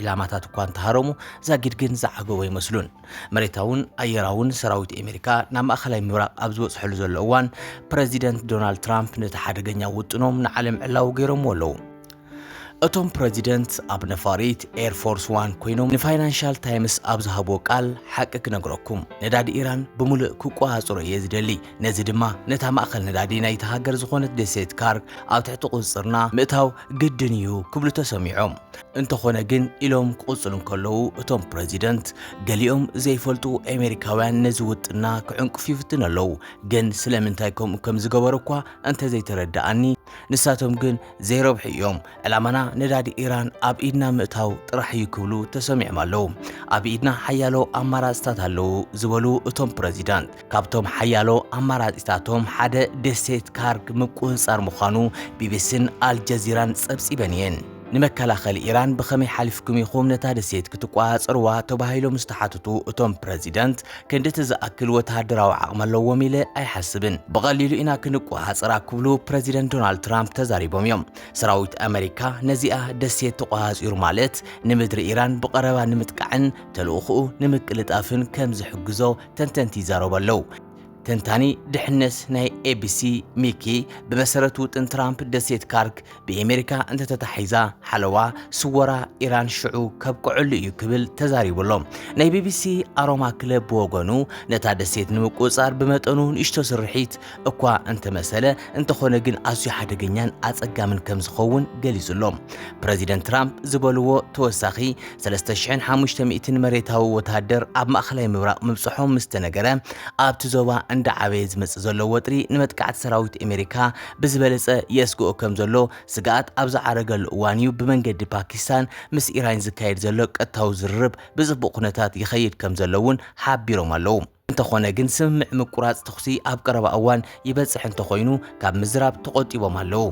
ኢላማታት እኳ እንተሃረሙ ዛጊድ ግን ዝዓገቡ ኣይመስሉን። መሬታውን ኣየራውን ሰራዊት ኣሜሪካ ናብ ማእኸላይ ምብራቕ ኣብ ዝበፅሐሉ ዘሎ እዋን ፕረዚደንት ዶናልድ ትራምፕ ነቲ ሓደገኛ ውጥኖም ንዓለም ዕላዊ ገይሮምዎ ኣለዉ። እቶም ፕረዚደንት ኣብ ነፋሪት ኤር ፎርስ ዋን ኮይኖም ንፋይናንሻል ታይምስ ኣብ ዝሃብዎ ቃል ሓቂ ክነግረኩም ነዳዲ ኢራን ብምሉእ ክቆፃፀሮ እየ ዝደሊ፣ ነዚ ድማ ነታ ማእኸል ነዳዲ ናይቲ ሃገር ዝኾነት ደሴት ካርግ ኣብ ትሕቲ ቁፅፅርና ምእታው ግድን እዩ ክብሉ ተሰሚዖም። እንተኾነ ግን ኢሎም ክቕጽሉ እንከለዉ እቶም ፕረዚደንት፣ ገሊኦም ዘይፈልጡ ኣሜሪካውያን ነዚ ውጥንና ክዕንቅፉ ይፍትኑ ኣለዉ፣ ግን ስለምንታይ ከምኡ ከም ዝገበሩ እኳ እንተ ዘይተረድኣኒ፣ ንሳቶም ግን ዘይረብሑ እዮም፣ ዕላማና ነዳዲ ኢራን ኣብ ኢድና ምእታው ጥራሕ እዩ ክብሉ ተሰሚዖም ኣለዉ። ኣብ ኢድና ሓያሎ ኣማራጽታት ኣለዉ ዝበሉ እቶም ፕረዚደንት፣ ካብቶም ሓያሎ ኣማራጺታቶም ሓደ ደሴት ካርግ ምቁጽጻር ምዃኑ ቢቢሲን ኣልጀዚራን ጸብጺበን እየን። ንመከላኸሊ ኢራን ብኸመይ ሓሊፍኩም ኢኹም ነታ ደሴት ክትቆጻጸርዋ ተባሂሎም ዝተሓትቱ እቶም ፕረዚደንት፣ ክንዲ እቲ ዝኣክል ወተሃደራዊ ዓቕሚ ኣለዎም ኢለ ኣይሓስብን፣ ብቐሊሉ ኢና ክንቆጻጸራ ክብሉ ፕረዚደንት ዶናልድ ትራምፕ ተዛሪቦም እዮም። ሰራዊት ኣመሪካ ነዚኣ ደሴት ተቖጻጺሩ ማለት ንምድሪ ኢራን ብቐረባ ንምጥቃዕን ተልእኾኡ ንምቅልጣፍን ከም ዝሕግዞ ተንተንቲ ይዛረቡ ኣለው። ተንታኒ ድሕነት ናይ ኤቢሲ ሚኪ ብመሰረት ውጥን ትራምፕ ደሴት ካርክ ብኤሜሪካ እንተተታሒዛ ሓለዋ ስወራ ኢራን ሽዑ ከብቅዐሉ እዩ ክብል ተዛሪቡ ኣሎ። ናይ ቢቢሲ ኣሮማ ክለብ ብወገኑ ነታ ደሴት ንምቁፅፃር ብመጠኑ ንእሽቶ ስርሒት እኳ እንተመሰለ እንተኾነ ግን ኣዝዩ ሓደገኛን ኣጸጋምን ከም ዝኸውን ገሊጹ ኣሎ። ፕረዚደንት ትራምፕ ዝበልዎ ተወሳኺ 3,500 መሬታዊ ወተሃደር ኣብ ማእከላይ ምብራቕ ምብጽሖም ምስ ተነገረ ኣብቲ ዞባ እንዳዓበየ ዝመጽእ ዘሎ ወጥሪ ንመጥቃዕቲ ሰራዊት ኣሜሪካ ብዝበለጸ የስግኦ ከም ዘሎ ስግኣት ኣብ ዝዓረገሉ እዋን እዩ ብመንገዲ ፓኪስታን ምስ ኢራን ዝካየድ ዘሎ ቀጥታዊ ዝርርብ ብጽቡቕ ኩነታት ይኸይድ ከም ዘሎ እውን ሓቢሮም ኣለዉ። እንተኾነ ግን ስምምዕ ምቁራጽ ተኹሲ ኣብ ቀረባ እዋን ይበጽሕ እንተኾይኑ ካብ ምዝራብ ተቖጢቦም ኣለዉ።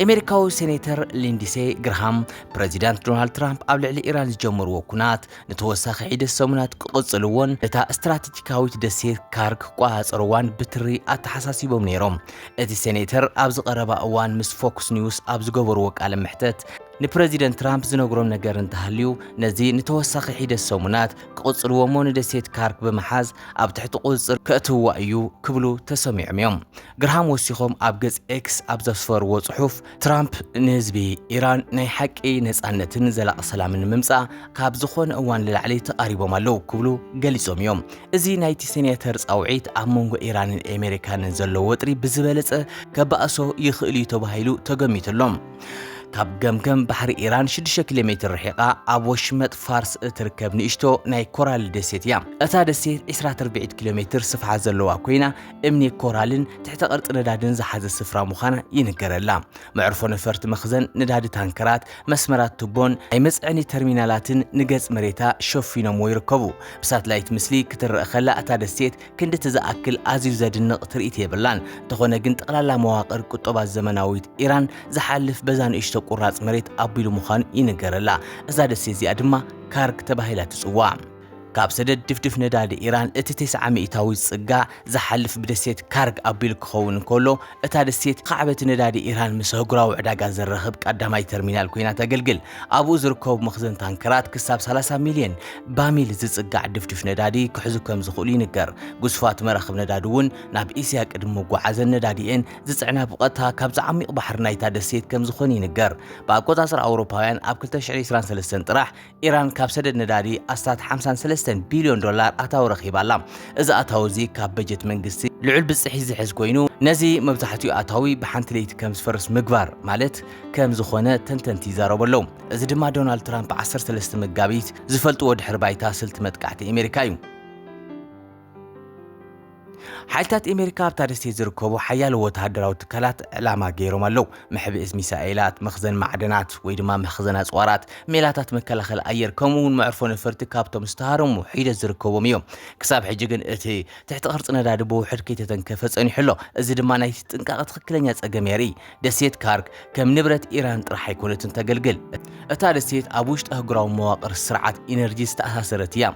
ኤሜሪካዊ ሴኔተር ሊንዲሴ ግርሃም ፕረዚዳንት ዶናልድ ትራምፕ ኣብ ልዕሊ ኢራን ዝጀመርዎ ኩናት ንተወሳኺ ሒደት ሰሙናት ክቕጽልዎን እታ ስትራተጂካዊት ደሴት ካር ክቆጻጸርዋን ብትሪ ኣተሓሳሲቦም ነይሮም። እቲ ሴኔተር ኣብዚ ቀረባ እዋን ምስ ፎክስ ኒውስ ኣብ ዝገበርዎ ቃለ መሕተት ንፕረዚደንት ትራምፕ ዝነግሮም ነገር እንተሃልዩ ነዚ ንተወሳኺ ሒደት ሰሙናት ክቕጽልዎ እሞ ንደሴት ካርክ ብምሓዝ ኣብ ትሕቲ ቁጽጽር ከእትውዋ እዩ ክብሉ ተሰሚዖም እዮም። ግርሃም ወሲኾም ኣብ ገጽ ኤክስ ኣብ ዘስፈርዎ ጽሑፍ፣ ትራምፕ ንህዝቢ ኢራን ናይ ሓቂ ነጻነትን ዘላቒ ሰላምን ንምምጻእ ካብ ዝኾነ እዋን ንላዕሊ ተቓሪቦም ኣለዉ ክብሉ ገሊጾም እዮም። እዚ ናይቲ ሴኔተር ጻውዒት ኣብ መንጎ ኢራንን ኤሜሪካንን ዘሎ ወጥሪ ብዝበለጸ ከባእሶ ይኽእል'ዩ ተባሂሉ ተገሚቱ ኣሎ። ካብ ገምገም ባሕሪ ኢራን 6 ኪሎ ሜትር ርሒቓ ኣብ ወሽመጥ ፋርስ እትርከብ ንእሽቶ ናይ ኮራል ደሴት እያ። እታ ደሴት 20 ትርብዒት ኪሎ ሜትር ስፍሓት ዘለዋ ኮይና እምኒ ኮራልን ትሕተ ቅርጺ ነዳድን ዝሓዘ ስፍራ ምዃና ይንገረላ። መዕርፎ ነፈርቲ፣ መኽዘን ነዳዲ ታንከራት፣ መስመራት ቱቦን ናይ መጽዐኒ ተርሚናላትን ንገጽ መሬታ ሸፊኖምዎ ይርከቡ። ብሳትላይት ምስሊ ክትረኣ ከላ እታ ደሴት ክንድቲ ዝኣክል ኣዝዩ ዘድንቕ ትርኢት የብላን። እንተኾነ ግን ጠቕላላ መዋቕር ቁጠባ ዘመናዊት ኢራን ዝሓልፍ በዛ ንእሽቶ ቁራጽ መሬት ኣቢሉ ምዃኑ ይንገረላ። እዛ ደሴት እዚኣ ድማ ካርግ ተባሂላ ትጽዋዕ። ካብ ሰደድ ድፍድፍ ነዳዲ ኢራን እቲ ቴስዓ ሚእታዊት ጽጋ ዝሓልፍ ብደሴት ካርግ ኣቢሉ ክኸውን እንከሎ፣ እታ ደሴት ኻዕበቲ ነዳዲ ኢራን ምስ ኣህጉራዊ ዕዳጋ ዘራኽብ ቀዳማይ ተርሚናል ኰይና ተገልግል። ኣብኡ ዝርከቡ መኽዘን ታንከራት ክሳብ ሰላሳ ሚልዮን ባሚል ዝጽጋዕ ድፍዱሽ ነዳዲ ክሕዙ ከም ዝኽእሉ ይንገር። ግዙፋት መራኽብ ነዳዲ እውን ናብ እስያ ቅድሚ ምጕዓዘን ነዳዲኤን ዝጽዕና ብቐጥታ ካብዚ ዓሚቝ ባሕሪ ናይታ ደሴት ከም ዝዀነ ይንገር። ብኣቈጻጽራ ኣውሮፓውያን ኣብ ክልተ ሽሕን ዕስራን ሰለስተን ጥራሕ፣ ኢራን ካብ ሰደድ ነዳዲ ኣስታት 53 ቢልዮን ዶላር ኣታዊ ረኺባ ኣላ። እዚ ኣታዊ እዚ ካብ በጀት መንግስቲ ልዑል ብፅሒት ዝሕዝ ኮይኑ ነዚ መብዛሕትኡ ኣታዊ ብሓንቲ ለይቲ ከም ዝፈርስ ምግባር ማለት ከም ዝኾነ ተንተንቲ ይዛረቡ ኣለዉ። እዚ ድማ ዶናልድ ትራምፕ 13 መጋቢት ዝፈልጥዎ ድሕሪ ባይታ ስልቲ መጥቃዕቲ ኣሜሪካ እዩ። ሓይልታት ኣሜሪካ ኣብታ ደሴት ዝርከቡ ሓያለ ወተሃደራዊ ትካላት ዕላማ ገይሮም ኣለዉ መሕብእዝ ሚሳኤላት መኽዘን ማዕደናት ወይ ድማ መኽዘን ኣፅዋራት ሜላታት መከላኸሊ ኣየር ከምኡ እውን መዕርፎ ነፈርቲ ካብቶም ዝተሃረሙ ሒደት ዝርከቦም እዮም ክሳብ ሕጂ ግን እቲ ትሕቲ ቅርፂ ነዳዲ ብውሕድ ከይተተንከፈ ፀኒሑ ኣሎ እዚ ድማ ናይቲ ጥንቃቐ ትኽክለኛ ፀገም የርኢ ደሴት ካርግ ከም ንብረት ኢራን ጥራሕ ኣይኮነትን ተገልግል። እታ ደሴት ኣብ ውሽጢ ኣህጉራዊ መዋቕር ስርዓት ኢነርጂ ዝተኣሳሰረት እያ።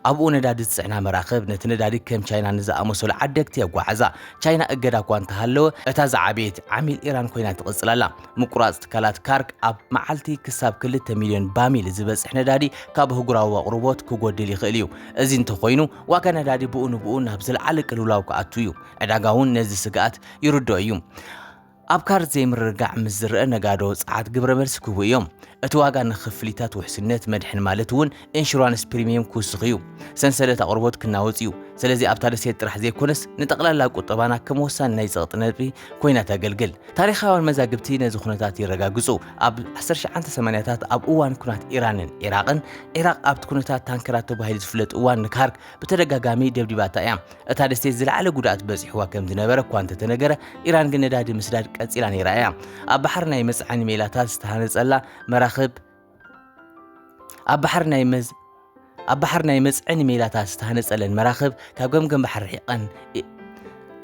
ኣብኡ ነዳዲ ዝጽዕና መራኽብ ነቲ ነዳዲ ከም ቻይና ንዝኣመሰሉ ዓደግቲ የጓዕዛ። ቻይና እገዳ እኳ እንተሃለወ፣ እታ ዝዓበየት ዓሚል ኢራን ኮይና ትቕጽል ኣላ። ምቁራጽ ትካላት ካርግ ኣብ መዓልቲ ክሳብ ክልተ ሚልዮን ባሚል ዝበጽሕ ነዳዲ ካብ ኣህጉራዊ ኣቕርቦት ክጎድል ይኽእል እዩ። እዚ እንተኾይኑ ዋጋ ነዳዲ ብኡ ንብኡ ናብ ዝለዓለ ቅልውላው ክኣቱ እዩ። ዕዳጋ'ውን ነዚ ስግኣት ይርድኦ እዩ። ኣብ ካርድ ዘይምርግጋዕ ምስ ዝረአ ነጋዶ ጸዓት ግብረ መልሲ ክህቡ እዮም። እቲ ዋጋ ንክፍሊታት ውሕስነት መድሕን ማለት እውን ኢንሹራንስ ፕሪሚየም ክውስኽ እዩ። ሰንሰለት ኣቕርቦት ክናወጽ እዩ። ስለዚ ኣብታ ደሴት ጥራሕ ዘይኮነስ ንጠቕላላ ቁጠባና ከም ወሳኒ ናይ ጸቕጢ ነጥቢ ኮይና ተገልግል። ታሪኻውያን መዛግብቲ ነዚ ኩነታት የረጋግጹ። ኣብ ዓሰርተ ሸዓንተ ሰማንያታት ኣብ እዋን ኩናት ኢራንን ዒራቕን፣ ዒራቕ ኣብቲ ኩነታት ታንከራት ተባሂሉ ዝፍለጥ እዋን ንካርግ ብተደጋጋሚ ደብዲባታ እያ። እታ ደሴት ዝለዓለ ጉድኣት በጺሕዋ ከም ዝነበረ እኳ እንተተነገረ፣ ኢራን ግን ነዳዲ ምስዳድ ቀጺላ ነይራ እያ። ኣብ ባሕሪ ናይ መጽዓኒ ሜላታት ዝተሃነጸላ መራኽብ ኣብ ባሕሪ ናይ መዝ ኣብ ባሕሪ ናይ መጽዕኒ ሜላታት ዝተሃነጸለን መራኽብ ካብ ገምገም ባሕሪ ርሒቐን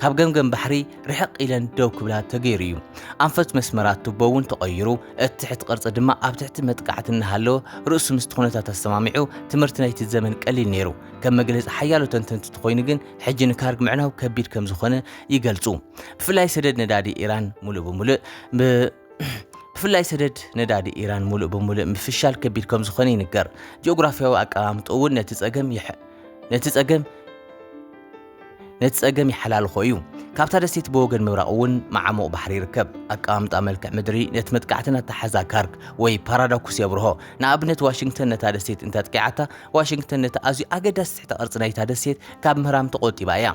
ካብ ገምገም ባሕሪ ርሕቕ ኢለን ደው ክብላ ተገይሩ እዩ ኣንፈት መስመራት ቱቦ እውን ተቐይሩ እቲ ትሕቲ ቅርፂ ድማ ኣብ ትሕቲ መጥቃዕቲ እናሃለወ ርእሱ ምስቲ ኩነታት ኣሰማሚዑ ትምህርቲ ናይቲ ዘመን ቀሊል ነይሩ ከም መግለጺ ሓያሎ ተንተንቲ እንተኾይኑ ግን ሕጂ ንካርግ ምዕናው ከቢድ ከም ዝኾነ ይገልጹ። ብፍላይ ሰደድ ነዳዲ ኢራን ሙሉእ ብምሉእ ብፍላይ ሰደድ ነዳዲ ኢራን ሙሉእ ብምሉእ ምፍሻል ከቢድ ከም ዝኾነ ይንገር። ጂኦግራፊያዊ ኣቀማምጦ እውን ነቲ ጸገም ነቲ ጸገም ነቲ ጸገም ይሓላልኾ እዩ። ካብታ ደሴት ብወገን ምብራቕ እውን መዓሙቕ ባሕሪ ይርከብ። ኣቀማምጣ መልክዕ ምድሪ ነቲ መጥቃዕትን ኣተሓሕዛ ካርግ ወይ ፓራዳኩስ የብርሆ። ንኣብነት ዋሽንግተን ነታ ደሴት እንተጥቂዓታ፣ ዋሽንግተን ነቲ ኣዝዩ ኣገዳሲ ትሕተ ቅርጺ ናይታ ደሴት ካብ ምህራም ተቖጢባ እያ።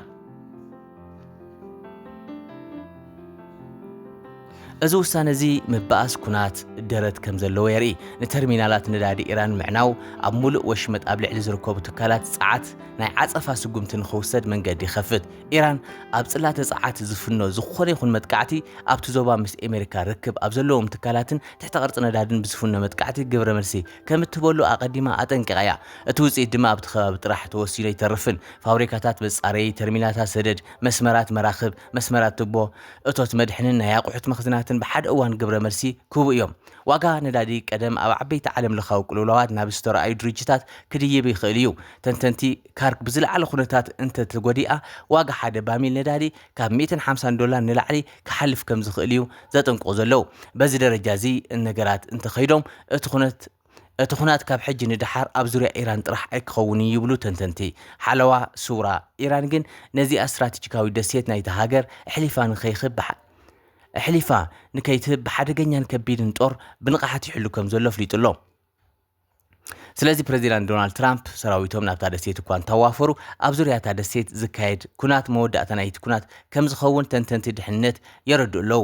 እዚ ውሳነ እዚ ምብኣስ ኵናት ደረት ከም ዘለዎ የርኢ። ንተርሚናላት ነዳዲ ኢራን ምዕናው፣ ኣብ ምሉእ ወሽመጥ ኣብ ልዕሊ ዝርከቡ ትካላት ጸዓት ናይ ዓጸፋ ስጕምቲ ንኽውሰድ መንገዲ ይኸፍት። ኢራን ኣብ ጽላተ ጸዓት ዝፍኖ ዝዀነ ይኹን መጥቃዕቲ፣ ኣብቲ ዞባ ምስ ኣመሪካ ርክብ ኣብ ዘለዎም ትካላትን ትሕተ ቅርጺ ነዳድን ብዝፍኖ መጥቃዕቲ ግብረ መልሲ ከም እትህበሉ ኣቐዲማ ኣጠንቂቓ እያ። እቲ ውጽኢት ድማ ኣብቲ ከባቢ ጥራሕ ተወሲኑ ኣይተርፍን። ፋብሪካታት፣ መጻረዪ ተርሚናታት ሰደድ፣ መስመራት መራኽብ፣ መስመራት ቱቦ፣ እቶት መድሕንን ናይ ኣቑሑት መኽዝናትን ብሓደ እዋን ግብረ መልሲ ክህቡ እዮም። ዋጋ ነዳዲ ቀደም ኣብ ዓበይቲ ዓለም ለኻዊ ቅልውላዋት ናብ ዝተረኣዩ ድርጅታት ክድይብ ይኽእል እዩ። ተንተንቲ ካርክ ብዝለዓለ ኩነታት እንተተጎዲኣ ዋጋ ሓደ ባሚል ነዳዲ ካብ ሚእትን ሓምሳን ዶላር ንላዕሊ ክሓልፍ ከምዝኽእል እዩ ዘጠንቅቑ ዘለዉ። በዚ ደረጃ እዚ ነገራት እንተኸይዶም እቲ ኩነት እቲ ኹናት ካብ ሕጂ ንደሓር ኣብ ዙርያ ኢራን ጥራሕ ኣይክኸውን'ዩ ይብሉ ተንተንቲ ሓለዋ ሱራ። ኢራን ግን ነዚኣ ስትራቴጂካዊት ደሴት ናይታ ሃገር ኣሕሊፋ ንከይክብ ኣሕሊፋ ንከይትህብ ብሓደገኛን ከቢድን ጦር ብንቕሓት ይሕሉ ከምዘሎ ኣፍሊጡ'ሎ። ስለዚ ፕረዚዳንት ዶናልድ ትራምፕ ሰራዊቶም ናብታ ደሴት እኳ እንተዋፈሩ ኣብ ዙርያ እታ ደሴት ዝካየድ ኩናት መወዳእታ ናይቲ ኩናት ከምዝኸውን ተንተንቲ ድሕነት የረድኡ ኣለዉ።